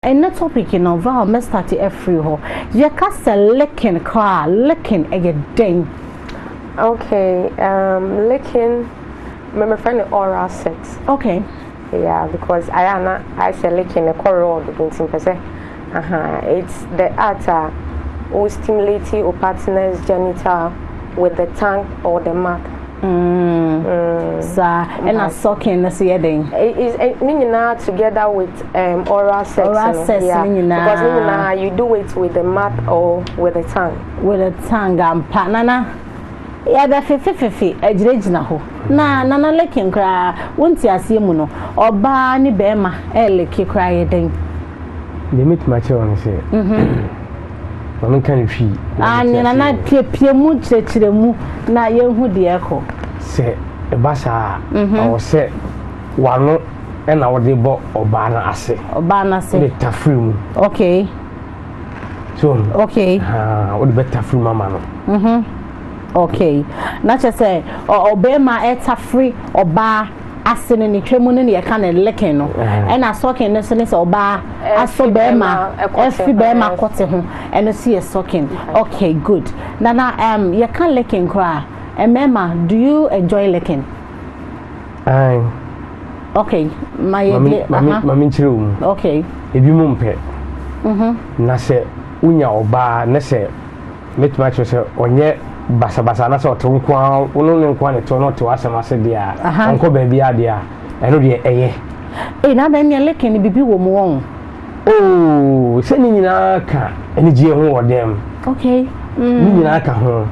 Ɛnɛ topic no Val mɛ starte afiri hɔ. Yɛ ka sɛ licking koraa a, licking ɛyɛ dɛn? Ok um licking me me frɛ no oral sex. Ok. Yeah because ayɛ a na ayɛ sɛ licking no ɛkɔ raw dodo nti mpɛ sɛ ahaa it's the art a wo stimulate wo partner's genital with the tongue or the mouth. saa ɛna sucking no so yɛ den ne nyinaa together with um, oral sex oral sex ne nyinaa because ne nyinaa you do it with the mouth or with the tongue with the tongue ampa nana yɛbɛfefefefe agyinagyina hɔ na nana lekin koraa wonte aseɛ mu no ɔbaa ne bɛrima ɛleke koraa yɛ den deɛ mɛtumi akyerɛ wo no sɛ Maame nka no hwii. Aane, na na piapia mu kyerɛkyerɛ mu na yɛhu deɛ ɛkɔ. Sɛ ɛba saa a, ɛwɔ sɛ w'ano na wode bɔ ɔbaa no ase. Ɔbaa no ase. Wode tafiri mu. Okay. So, okay. Haa, wode bɛ tafiri mu ama no. Mhm. Okay. Na kyerɛ sɛ, ɔbɛrima ɛtafiri ɔbaa. ase no ne twa mu no na yɛka no leken no ɛna sɔken no nso ne sɛ ɔbaa asɔ bɛrima ɛfi bɛrima kɔte ho ɛno nso yɛ sɔken okay good nana um, yɛka leken koraa mmarima do you enjoy leken Aye. okay ma yɛ de aha ma menkyerɛ wo mu okay ebi mu mpɛ mhm. na sɛ wonya ɔbaa na sɛ Mɛtumi akyerɛ sɛ ɔnyɛ basabasa na sɛ ɔte nko ara wo no ne nko ara na ɛtew na ɔte w'asɛm ase deɛ a ɔnkɔ baabi a deɛ a ɛno deɛ ɛyɛ. Ee na adan nea leke no bibi wɔ mu wɔn. Oo sɛ ne nyinaa ka anigyeɛ ho wɔ dan mu. Okay. Mm. Ne nyinaa ka ho.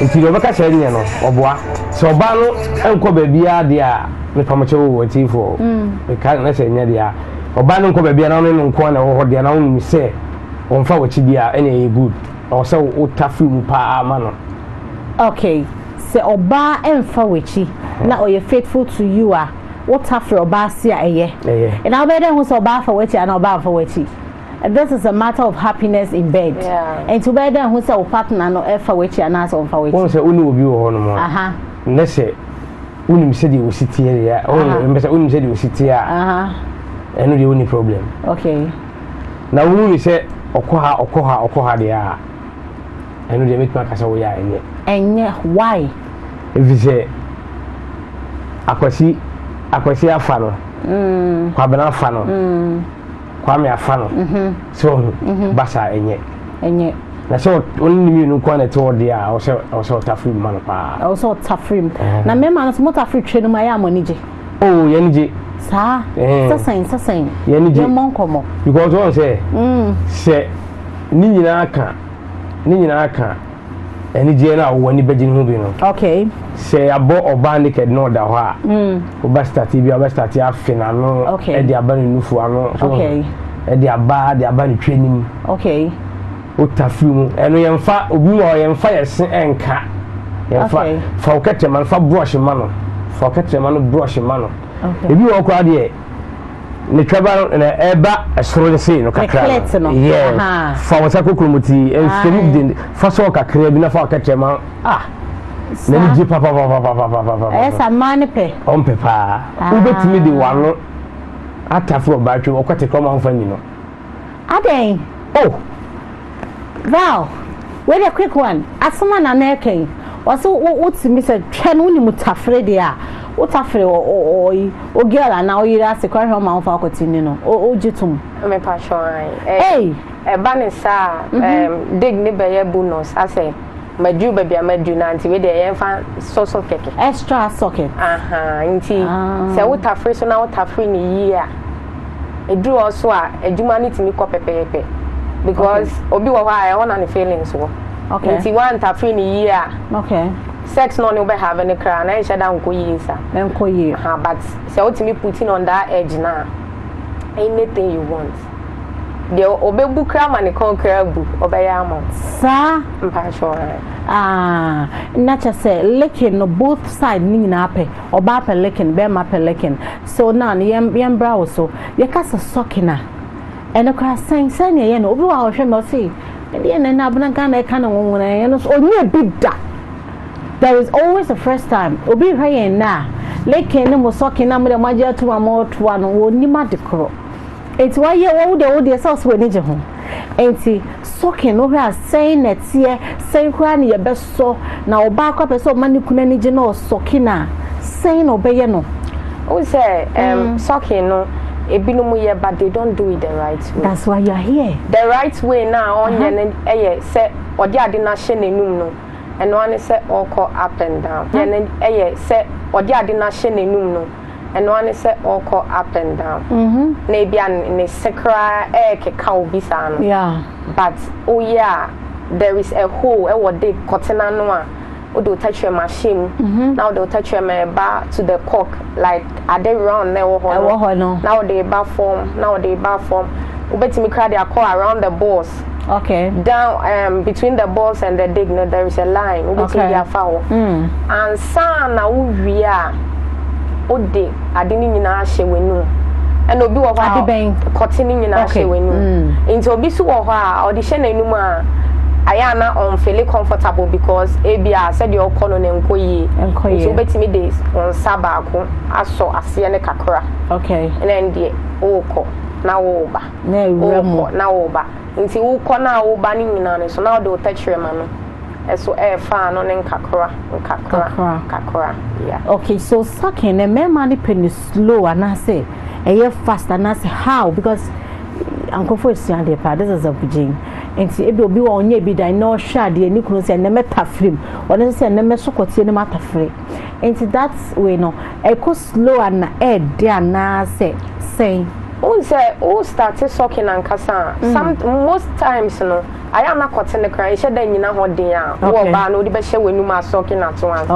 Nti deɛ ɔbɛka sɛ ɛnyɛ no ɔboa sɛ ɔbaa no nkɔ baabi a deɛ a mepamokyɛ wo wɔ atiifoɔ. Mm. Meka na sɛ ɛnyɛ deɛ a ɔbaa no nkɔ baabi a na wo ne no nko ara na ɛwɔ hɔ deɛ na wonim sɛ Ɔmfa w'akyidi a ɛna ɛyɛ good. Ɔwɔ sɛ wo ta firi mu paa ma no. Ok, sɛ ɔbaa ɛmfa w'akyi na ɔyɛ faithful to you a, wo ta firi ɔbaa ase a ɛyɛ. Ɛyɛ. Na wobɛyɛ dɛ ahu sɛ ɔbaa afa w'akyi anaa ɔbaa amfa w'akyi. This is a matter of happiness in bed. Yeah. Nti wobɛyɛ dɛ ahu sɛ wo partner no ɛfa w'akyi anaa sɛ ɔmfa w'akyi. Wohu sɛ wone obi wɔ hɔ nom a. Aha. Nɛ sɛ wonim sɛdeɛ osi teɛ deɛ a, wohu sɛ wonim sɛdeɛ osi teɛ a. Aha. Ɛno deɛ wonni problem. Ok. na wohu no sɛ ɔkɔ ha, ɔkɔ ha, ɔkɔ ha deɛ a, ɛno deɛ mɛtumi aka sɛ woyɛ a ɛnyɛ. Ɛnyɛ, why? Ɛfiri sɛ Akwasi, Akwasi afa no, mm. Kwabena afa no, mm. Kwame afa no, mm -hmm. sɛ ɔhu, mm -hmm. ba saa ɛnyɛ. Ɛnyɛ. na sɛ ɔne ne mmienu nko na ɛte hɔ deɛ a ɔsɛ ɔsɛ ɔtafiri mu ma no paa ɔsɛ ɔtafiri mu na mmarima no so motafiri twɛ no mu ayɛ a mo ani gye oh yɛn gye. saa eh. sɛsɛn sɛsɛn yɛn gye yɛn mmɔ nkɔmɔ. because wɔn sɛ mm. sɛ ne nyinaa ka ne nyinaa ka anigyeɛ no a wɔn ani bɛgye ne ho bi no. okay. sɛ yɛabɔ ɔbaa naked na ɔda hɔ a. Mm. ɔba state bi a ɔbɛ state afe n'ano. okay ɛde aba ne nufu ano. okay ɛde aba ɛde aba ne twɛ nim. okay. Ota firi mu. Ɛno yɛmfa obi wɔ hɔ yɛmfa yɛ se ɛnka. Yɛmfa fa wo kɛtɛ ma no fa brush ma no. Fa wo kɛtɛ ma no brush ma no. Ebi wɔ hɔ koraa deɛ ne twɛba no na ɛba ɛsoro no sei no kakra no. Yɛ fa wo nsa kokoro mu ti ɛmfiri de fa sɔɔ kakra bi na fa wo kɛtɛ ma ah n'ani gye papapapapapapa. Ɛyɛ sa mmaa ne pɛ. Ɔmpɛ paa. Wobɛtumi de wano atafo ɔbaatwam ɔkɔte kɔma ho fa nyi no. Adɛn oh Val wei deɛ quick one asɛm a na na ɛka yi ɔse wo te mi sɛ hwɛ no wonim tafere deɛ a wo tafere ɔyi o girl anaa wo yere ase kora hwɛ ɔma wo fa akɔ ti ni no o gye tom. Me pa kyɛ ɔhan. Ɛba ne saa dig ne bɛyɛ bonus asɛ. Madu baabi a madu no nti wei deɛ yɛmfa so so kɛkɛ. Extra socket. Aha nti ah. sɛ wotafere so na wotafere ne yie a ɛduru hɔ so a adwuma no tumi kɔ pɛpɛɛpɛ because obi wɔ hɔ a ɛhɔ na ne feelings wɔ. Okay. Nti wantafere ne yie a. Okay. Sex no ne wobɛhave no koraa na ɛnhyɛ da nkɔ yie sa. Ɛnkɔ yie. Ha but sɛ wotumi putin on that edge na anything you want. Deɛ ɔbɛbu koraa ma ne kɔn koraa bu, ɔbɛyɛ ama wo. Saa? Mpakyɛw ae. Ah, na kyɛ sɛ licking no both side ne nyinaa pɛ. Ɔbaa pɛ licking, bɛrima pɛ licking. So now no yɛn yɛn bra wo so. Yɛka sɛ sucking a, ɛno koraa sɛn sɛn na ɛyɛ no? Obi wɔ hɔ a ɔhwɛ mi ɔse, ɛdeɛ na ɛna abena Ghana ɛka no nwonwona yɛn no so ɔnyɛ bi da. There is always a first time. Obi rehwɛ yɛn nnɛ a, licking ne mo sucking na mo deɛ mo agye atum a mo retoa no, wɔnnim ade korɔ. Enti wayɛ wo deɛ wo deɛ sɛ ɔsɛ w'ani gye ho. Enti sɔkin no hwɛ a sɛn na ɛteɛ sɛn koraa na yɛbɛsɔ na ɔbaa koraa pɛ sɛ ɔma ne kunu ani gye na ɔsɔkin a sɛn na ɔbɛyɛ no. Wohu sɛ um, sɔkin no ebinom yɛ but they don't do it the right way. That's why you are here. The right way no a ɔnyɛ no yɛ sɛ ɔde ade no ahyɛ n'anum no ɛno ara ne sɛ ɔrekɔ up and down. Yɛ no yɛ sɛ ɔde ade no ahyɛ n'anum no. ɛno ara ne sɛ ɔrekɔ up and down na ebi a ne se koraa ɛrekeka obi saa no but woyɛ a there is a hole ɛwɔ de kɔte n'ano a wode wo tɛkyerɛm ahyɛ mu na wode wo tɛkyerɛm ɛreba to the cock like ade round na ɛwɔ hɔ no na wode ba fam na wode ba fam wobɛtumi koraa de akɔ around the balls Okay. Down um, between the balls and the dig no there is a line. Wobɛtumi okay. de afa hɔ. Mm. Ansa na wowie a wode ade no nyinaa ahyɛ w'anum. Ɛna obi wɔ hɔ a kɔte no nyinaa okay. hyɛ w'anum. Mm. Nti obi so wɔ hɔ a ɔde hyɛ n'anum a ayɛ a na ɔnfele comfortable because ebi a sɛdeɛ ɔkɔ no na nkɔ yie. Nkɔ yie. Nti wobɛtumi de nsa baako asɔ aseɛ no kakra. Okay. Ɛna ɛn deɛ wokɔ na woba. worekɔ na woreba. Enti wokɔ no a woreba no nyinaa no, so na wode wo tɛkyerɛma no so refa ano ne nkakra nkakra nkakra? Yeah. Okay, so sucking no mmarima no pɛ no slow anaasɛ ɛyɛ fast anaasɛ how because nkurɔfoɔ esua adeɛ paa this is a bugyen nti ebi obi wɔ ɔnyɛ bi dan na ɔhwɛ adeɛ ne kunu sɛ ɛnɛmɛ tafiri mu ɔno nso sɛ ɛnɛmɛ sokɔteɛ no mu atafiri. Nti that way no ɛkɔ slow ana ɛɛdɛ anaa sɛ sɛn? Wohu sɛ wo start sucking ankasa a some most times no ayɛ a na kɔte no koraa nhyɛ da nnyina hɔ den a wo ɔbaa no wode bɛhyɛ w'anum a sucking at once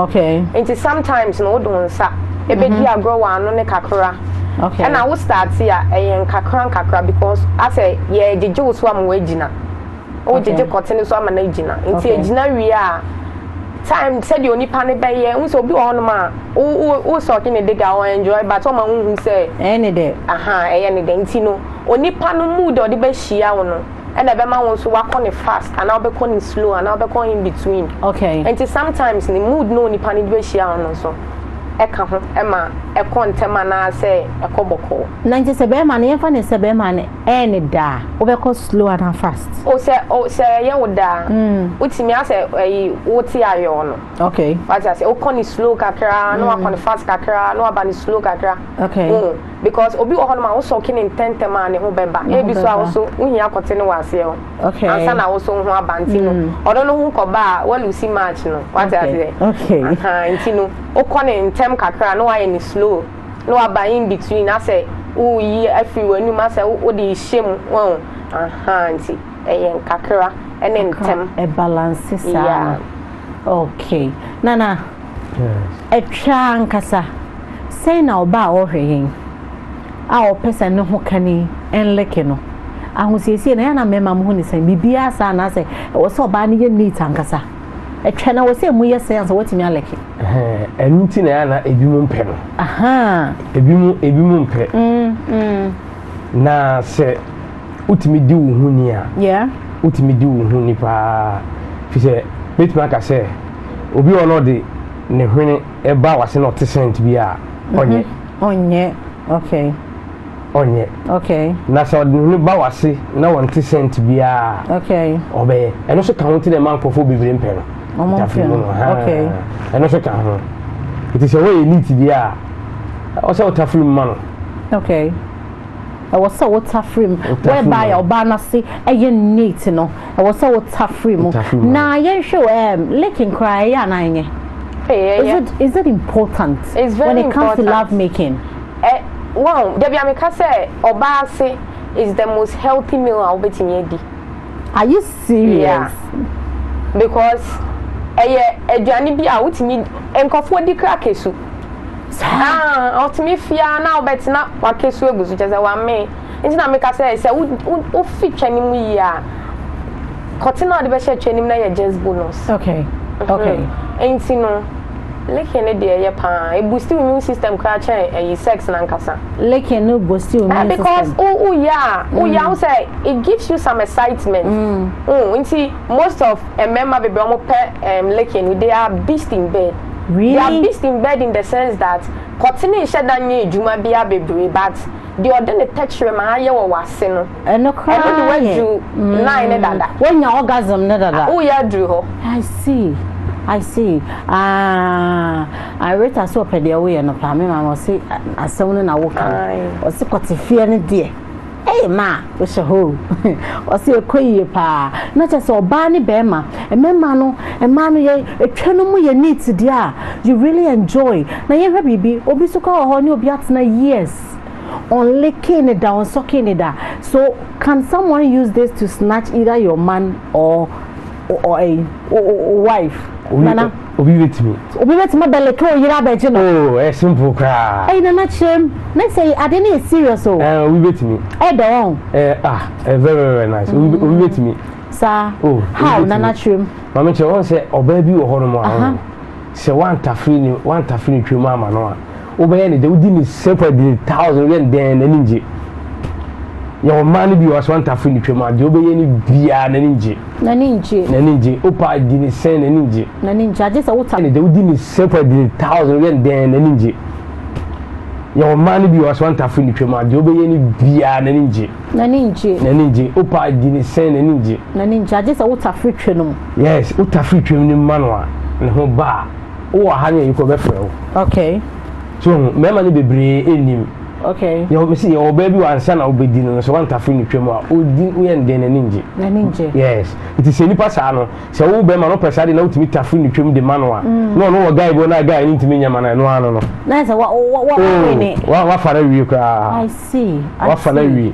nti sometimes no wode wo nsa ɛbɛdi agorɔ wɔ ano no kakra ɛna wo start a ɛyɛ nkakra nkakra because asɛ yɛɛgyegye wo so ama woagyina. wogyegye kɔte no so ama no agyina nti agyina wie a time sɛdeɛ onipa no bɛyɛ wo sɛ obi wɔ hɔnom a wo sɔke ne dega ɔ enjoy but ɔma wohu sɛ ɛyɛ ne dɛ aha ɛyɛ ne dɛ nti no onipa no mood a ɔde bɛhyia wo no ɛna ɛbɛma wo nso wakɔ ne fast anaa wobɛkɔ ne slow anaa wobɛkɔ in between okay nti sometimes ne mood no onipa no de bɛhyia wo no nso ɛka ho ɛma ɛkɔ ntɛm anaasɛ ɛkɔ bɔkɔɔ na nkyɛ sɛ bɛrima no yɛmfa ne sɛ bɛrima no Ɛyɛ ne da a, wobɛkɔ slow anaa fast? O sɛ o sɛ ɛyɛ wo da a, wotumi asɛ ɛyi wote ayɔɔ no. Okay. Wate aseɛ, wokɔ ne slow kakra na wakɔ ne fast kakra na waba ne slow kakra. Okay. Wohu because obi wɔ hɔ nom a wosɔke ne ntɛntɛm a ne ho bɛba. Ne ho bɛba. Ebi so a wo so wohia akɔte ne wɔ aseɛ o. Okay. Ansa na wo so wo ho aba nti no ɔno no ho kɔba a woalusi match no. Wate aseɛ. Okay. Ahaa nti no wokɔ ne ntɛm kakra na wayɛ ne slow. na waba in between asɛ woyi afiri w'anum asɛ wode rehyɛ mu wɔn aha nti ɛyɛ nkakra ɛne ntɛm ɛbalanse saa yeah. okay nana ɛtwa ankasa sɛn na ɔba a ɔhwɛ yɛn a ɔpɛ sɛ ne ho ka ni ɛnleke no ahosiesie na yɛn na mmarima mu ho ne sɛn biribiara saa anaasɛ ɛwɔ sɛ ɔbaa no yɛ neat ankasa Ɛtwa na wɔ sɛ emu yɛ sɛ ansa watumi alɛke. Ɛnu ti na ɛyɛ na ebi mu mpɛ no. Ebi mu ebi mu mpɛ. Mm, mm. Na sɛ wotumi di wo ho ni a. Wotumi di wo ho ni paa. Fi sɛ betumi aka sɛ obi wɔ na ɔde ne hwene ɛba wase na ɔte sent bi a ɔnyɛ. Ɔnyɛ okay. ɔnyɛ. Okay. Na sɛ ɔde n'ani ba w'ase na wɔnte scent biara a. Okay. Ɔbɛyɛ. Ɛno nso ka ho nti na ɛma nkurɔfoɔ bebree mpɛ no. Wɔn mpɛ no. Okay. Ɛno nso ka ho. Nti sɛ wɔyɛ elite bi a, ɛwɔ sɛ wotafere mu ma no. Okay. ɛwɔ sɛ wotafere mu whereby a ɔbaa no ase ɛyɛ neat no ɛwɔ sɛ wotafere mu na yɛnhwɛ ɛɛm um, licking koraa ɛyɛ anaa ɛnyɛ. Is it is it important when it comes to love making? Ɛ, woahu, da biara meka sɛ ɔbaa ase is the most healthy meal a wobɛtumi adi. Are you serious? Yeah, because ɛyɛ aduane bi a wotumi, nkurɔfoɔ di kra kesu. Saa? Ah, ɔtumi fi ara na wobɛte na wakesu agu so, kyɛ sɛ wamee. Nti na meka sɛ sɛ wo, wo, wofi twɛ no mu yie a, kɔte na wode bɛhyɛ twɛ no mu na yɛ just bonus. Okay, okay. Mm, nti no. Licking no deɛ ɛyɛ paa. E boost wo immune system koraa kyɛn ɛyi sex no ankasa. Licking no boost wo immune system. Ɛɛ because wo wo yɛ a, wo yɛ a wohu sɛ it gives you some excitement. Wo hu nti most of mmarima bebree wɔn pɛ ɛɛm licking no they are beast in bed. Really? They are beast in bed in the sense that kɔtene nhyɛ da nyɛ adwuma biara bebree but deɛ ɔde ne tɛkyerɛma ayɛ wɔ w'ase no. Ɛno koraa yɛ. Ɛno de wadu nine ne dada. Wanya orgasm ne dada. Woyɛ aduru hɔ. I see I see ah I Rita so ɔpɛ deɛ woyɛ no paa me maame ɔse asɛm no na woka ɔse kɔte feɛ no deɛ ɛyɛ ma a wohyɛ hɔ ɔse ɛkɔ yie paa na kyɛ sɛ ɔbaa ne bɛrima mmarima no mmaa no yɛ ɛtwa no mu yɛ neat deɛ a you really enjoy na yɛhwɛ biribi obi so kɔ wɔ hɔ ne obi atena years only kini da on so kini da so can someone use this to snatch either your man or or a wife nana obi betumi obi betumi abɛlɛ kɛ oyiri abɛgye no oo oh, ɛ eh, simple koraa ɛyi nana kyerɛ mu ne sɛ ade ne yɛ serious o oh. ɛɛ eh, obi betumi ɛdɛ eh, wɔn ɛɛ ah ɛɛ very very nice obi mm. betumi saa oh, how nana kyerɛ mu maame kyerɛ wɔn sɛ ɔbaa bi wɔ hɔ nom a sɛ wantafiri ne wantafiri ne twɛ mu ama no a. wobɛyɛ no dɛ wodi ne sefa di ne thousand woyɛ no dɛn n'ani ngye yɛwɔ mmaa no bi wɔ aso antafo ne twam a deɛ wobɛyɛ no biara n'ani ngye n'ani ngye n'ani ngye wopa di ne sɛn n'ani ngye n'ani ngye agye sɛ wota ne dɛ wodi ne sefa di ne thousand woyɛ no dɛn n'ani ngye yɛwɔ mmaa no bi wɔ aso antafo ne twam a deɛ wobɛyɛ no biara n'ani ngye n'ani ngye n'ani ngye wopa di ne sɛn n'ani ngye n'ani ngye agye sɛ wotafiri twam yes wotafiri twam ne mma no a ne ho baa wowɔ ha ne yɛyi kɔ bɛfrɛ wo okay so hu mmarima no bebree ɛnnim okay yɛwɔ mesi yɛwɔ ɔbaa bi wɔ ansa na wobɛdi no no sɛ wantafo ne twam a ɔdi woyɛ no dɛn n'ani ngye n'ani ngye yes nti sɛ nipa saa no sɛ wo bɛrima no pɛ saa de na wotumi tafo ne twam de ma no a mm. na ɔno wɔ guy bi na guy no ntumi nyɛ ma no ɛno ano no na sɛ wa wa wa wa oh, ne wa wa fa na wie koraa I see I see wa fa na wie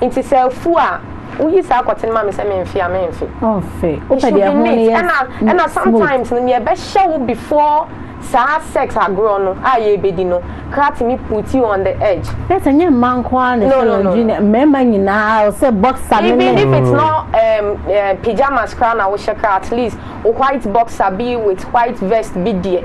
Nti sɛ afu a, woyi saa kɔtene ma me sɛ memfe a, memfe? Ɔmfe. Wopɛ deɛ ɛho no yɛ smooth. Ɛna sometimes no, neɛ ɛbɛhyɛ wo before saa sex agorɔ no a yɛrebɛdi no koraa tumi put you on the edge. Nurse, ɛnyɛ mmaa nko ara na ɛsɛ laundry no, mmarima nyinaa, sɛ boxer no ne. Even if it's not um, uh, pyjamas koraa na wohyɛ koraa, at least wo white boxer bi with white vest bi deɛ.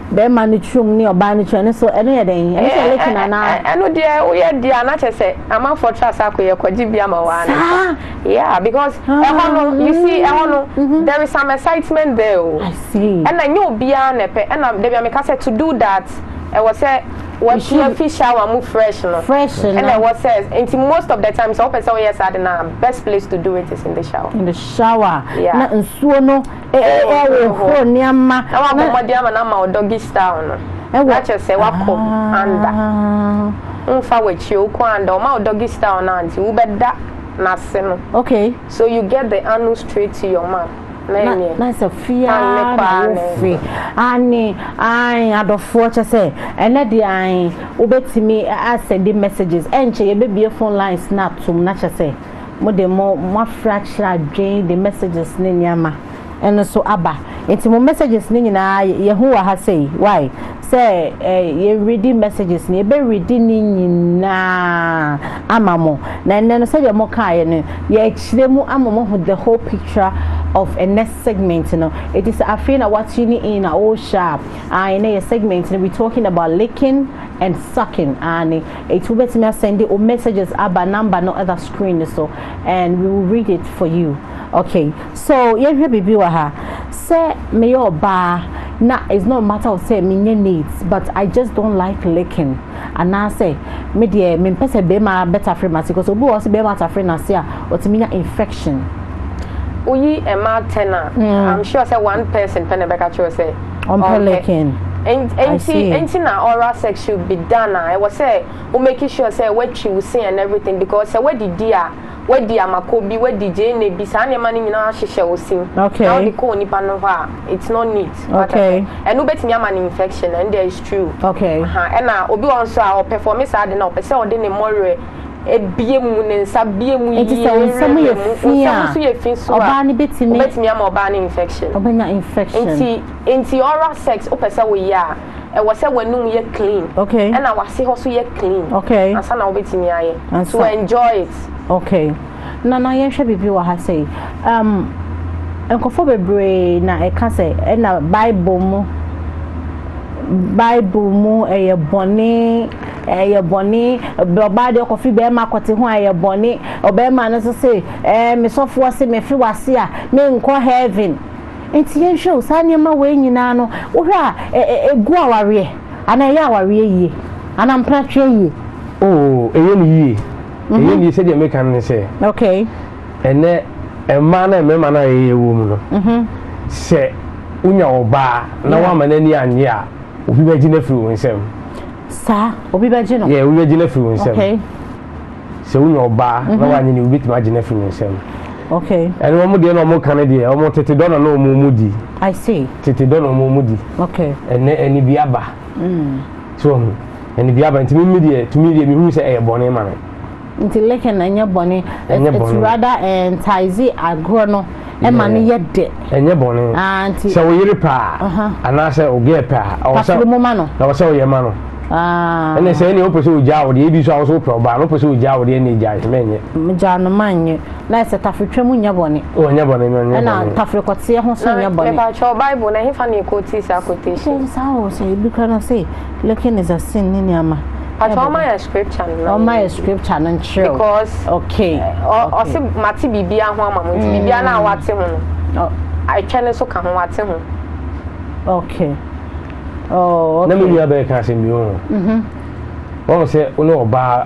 Bɛɛma no turom ne ɔbaa no turom ɛno so ɛno yɛ dɛn? Ɛno sɛ lake na anaa? Ɛno deɛ woyɛ deɛ a na kyɛ sɛ amanfoɔ tra saa kɔ yɛ kɔgye bi ama waa ne sa. Yeah because ɛhɔ no you see ɛhɔ no there is some excitement there o. I see. Ɛna nyɛ obiara na ɛpɛ ɛna dabi a meka sɛ to do that ɛwɔ sɛ wɔatu afi shower mu fresh no. Fresh no. Ɛna ɛwɔ sɛ nti most of the time sɛ wopɛ sɛ woyɛ saa de na best place to do it is in the shower. In the shower. Yeah. Na nsuo no. ɛhohoro nneɛma na wabɔ mmɔden ama no ama wo doggy style no na kyerɛ sɛ wakɔ anda womfa ah. w'akyi wokɔ anda ɔma wo doggy style no ante wobɛda n'ase no okay so you get the anu straight to your mouth na sɛ fia na wofe ane an adɔfoɔ kyɛ sɛ ɛnɛ de an wobɛtumi asɛde messages ɛnkyɛ yɛbɛbie phone lines na atom na kyɛ sɛ mo de mo mo afra akyerɛ adwene de messages ne nneɛma ɛno so aba nti mo messages ne nyinaa yɛhu wɔ ha sɛ why sɛ eh, yɛ ready messages ne yɛbɛ ready ne nyinaa ama mo na ɛnɛ no sɛdeɛ mo kaeɛ no yɛkyerɛ mu ama mo ho the whole picture of a next segment no ɛti sɛ afei na what you in a oh sharp ah, ɛnɛ yɛ segment no we talking about licking and sucking ah, ne Eti wobɛtumi asɛnde wo messages aba number no ɛda screen no so and we will read it for you okay so yɛnhwɛ biribi wɔ ha sɛ meyɛ ɔbaa na it's not matter of sɛ menyɛ neat but I just don't like licking anaasɛ me deɛ mempɛ sɛ bɛrima bɛtafere m'ase because obi wɔ hɔ sɛ bɛrima atafere n'ase a ɔtumi nya infection. Woyi mmaa ten a, I'm sure sɛ one person pɛ na ɛbɛka kyerɛ wo sɛ. Ɔmpɛ licking. Enti enti na oral sex should be done a ɛwɔ sɛ wo make sure sɛ woatwi wo se and everything because sɛ woadidi a woadi amako bi woadi gyeene bi saa nneɛma no nyinaa ahyehyɛ wo se mu na wode kɔ onipa no hɔ a it's not neat wate aseɛ ɛno wobɛtumi ama no infection ɛndeɛ it's true ɛna obi wɔ hɔ nso a ɔperforme saa ade no a ɔpɛ sɛ ɔde ne mmɔwerɛ abue mu, ne nsa abue mu yie. Enti sɛ wo nsam yɛ fi a, ɔbaa no bɛtumi. Wobɛtumi ama ɔbaa no infection. Ɔbɛnya infection. Enti, enti oral sex wopɛ sɛ woyɛ a, ɛwɔ sɛ w'anum yɛ clean. Okay. Ɛna w'ase hɔ nso yɛ clean. Okay. Ansa na wobɛtumi ayɛ. Ansa. To enjoy it. Okay. Na na yɛnhwɛ biribi wɔ ha sei. Um, nkurɔfoɔ bebree na ɛka sɛ ɛna Bible mu Bible mu ɛyɛ bɔne ɛyɛ bɔne ɔbaa deɛ ɔkɔfi bɛrima akɔte ho a ɛyɛ bɔne ɔbɛrima no nso se ɛɛ mesɔfoɔ se mefe wase a menkɔ heaven nti yɛnhwɛ o saa nneɛma wei nyinaa no wohwɛ a ɛgu awareɛ anaa ɛyɛ awareɛ yie anaa mpratweɛ yie. Oo, ɛyɛ no yie. mhm. ɛyɛ nie sɛdeɛ meka no ne sɛ ɛnɛ mmaa no mmarima no a ɛyɛ wɔ mu no mhm. sɛ wonya ɔbaa na woama no ani annye a obi bɛgye no afiri wo nsam saa obi bɛgye no yɛ obi bɛgye no afiri wo nsam sɛ wonya ɔbaa na mhm. woanyɛ ne wobɛtumi agye no afiri wo nsam okay ɛne wɔn deɛ na wɔn ka no deɛ wɔn tete dɔ na na wɔn mu di i see tete dɔ na wɔn mu di okay ɛnɛ ɛni bi aba. so ɔhu ɛne bi aba nti mimi deɛ tumi deɛ mehunu sɛ ɛyɛ bɔne ma me nti leke na ɛnyɛ bɔne it's rather eh, ntaize agorɔ no ɛma no yɛ dɛ ɛnyɛ bɔne ah, sɛ wo yere paa uh-huh. anaasɛ wo gɛɛ paa na wɔ sɛ woyɛ ma no ah. ɛne sɛ ɛne wopɛ sɛ wogyaa wo deɛ ebi so a wo so wopɛ ɔbaa no wopɛ sɛ wogyaa wo deɛ ɛne gyae sɛ mɛnyɛ gyaa no manyɛ na ɛsɛ taferetwa mu nyɛ bɔne. Wɔnyɛ bɔne no nyɛ bɔne. Ɛna taferekɔteɛ ho nso nyɛ bɔne. Mepatwɔ Bible na hefa na ekotii saa quotation? Ɛyɛ saa o sɛ ebi kura no se licking is a sin ne nneɛma. Patwɔ ɔma yɛ scripture no na. Ɔma yɛ scripture no nkyerɛw. Because okay. Ɔse mate biribiara ho ama mo nti biribiara na wate ho no. Atwa no so ka ho wate ho. Okay. Oh okay. Na me nua bɛka asɛm bi ho. Mhm. Wɔn sɛ wo ne ɔbaa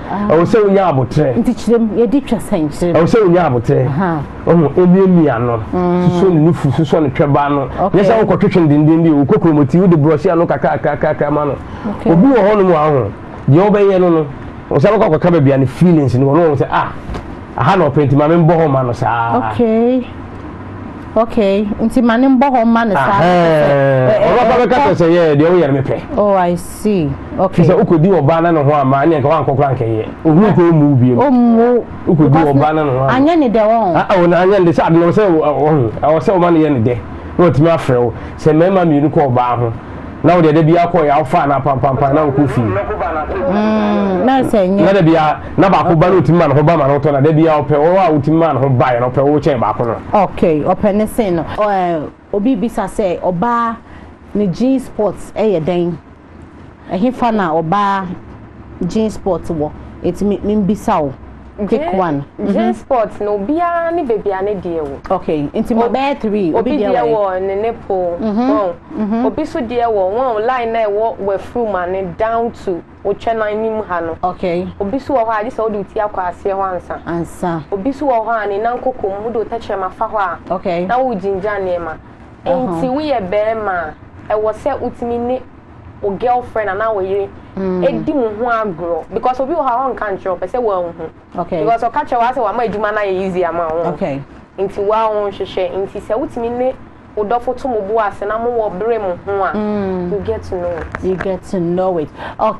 ɛwɔ sɛ wonya aboterɛ nti kyerɛm yɛde twa sɛnkyerɛm ɛwɔ sɛ wonya aboterɛ ɔho ɛmiamia no mm. susɔ ne nufu susɔ ne twɛba no nyɛ sɛ wokɔtwetwe no denden bi wokɔ kuromɔti wode borɔhye ano kakrakrakrakra ma no obi wɔ hɔ no mu ahoho deɛ wobɛyɛ no no ɔsɛ bɛkɔ akɔka baabi a ne feelings no wɔ no wɔn sɛ ah Aha na ɔpɛ nti ma me mbɔ hɔ mma no saa. Okay. Okay. Nti ma ne mbɔ hɔ mma no saa. Ɔno ɔba bɛka kyerɛ sɛ yɛ deɛ woyɛ no mepɛ. Oh I see. Okay. Sɛ wokɔdi ɔbaa na ne ho amma ɛnneɛ nka wankɔ koraa nkɛyɛ. Ohu nkɔ ɔmmu wo biam. Ɔmmu. Wokɔdi ɔbaa na ne ho amma. Anyɛ ne dɛ wɔn. Ah oh na anyɛ ne dɛ sɛ ade na ɔwɔ sɛ wɔhu. Ɔwɔ sɛ ɔma no yɛ ne dɛ. Na watumi afrɛ wo. Sɛ mmarima mmienu kɔ ɔbaa ho. na wode ɛda biara kɔɛ awofa anaa pampampan na wokɔ fie mm, na sɛ nyɛ na da biara na baako ba no wotumi ma ne ho ba ma no wotɔ na da biara ɔpɛ wɔ a wotumi ma ne ho baeɛ no ɔpɛ wo kyɛn baako no ok ɔpɛ ne se no obi bisa sɛ ɔbaa ne jean sport ɛyɛ dɛn ɛhefa na ɔbaa jean sport wɔ ɛtumi membisa wo pick one. J mm-hmm. Sport no obiara ne baby a ne deɛ wɔ. Okay, nti ma bɛyɛ three. Obi deɛ wɔ ne ne po. Mm-hmm. Wɔn. Mm-hmm. Obi so deɛ wɔ wɔn line na ɛwɔ wafuru ma ne down to otwa nan nim ha no. Okay. Obi so wɔ hɔ a gye sɛ wode ti akɔ aseɛ hɔ ansa. Ansa. Obi so wɔ hɔ a ne nan koko mu wode otɛkyerɛ ma fa hɔ a. Okay. Na wogyingya nneɛma. Uh-huh. Nti woyɛ bɛrima a ɛwɔ sɛ wotumi ne wo girlfriend anaa wo yere mm. di mo ho agorɔ because obi wɔ hɔ a ɔnka nkyerɛ ɔpɛ sɛ wɔanhu because ɔka kyerɛ wɔ sɛ wama adwuma no ayɛ easy ama wo nti woa wo nhwehwɛ nti sɛ wotumi ne wo dɔfo to mo bo ase na mowɔ bere mo ho a mm. you get to know it you get to know it okay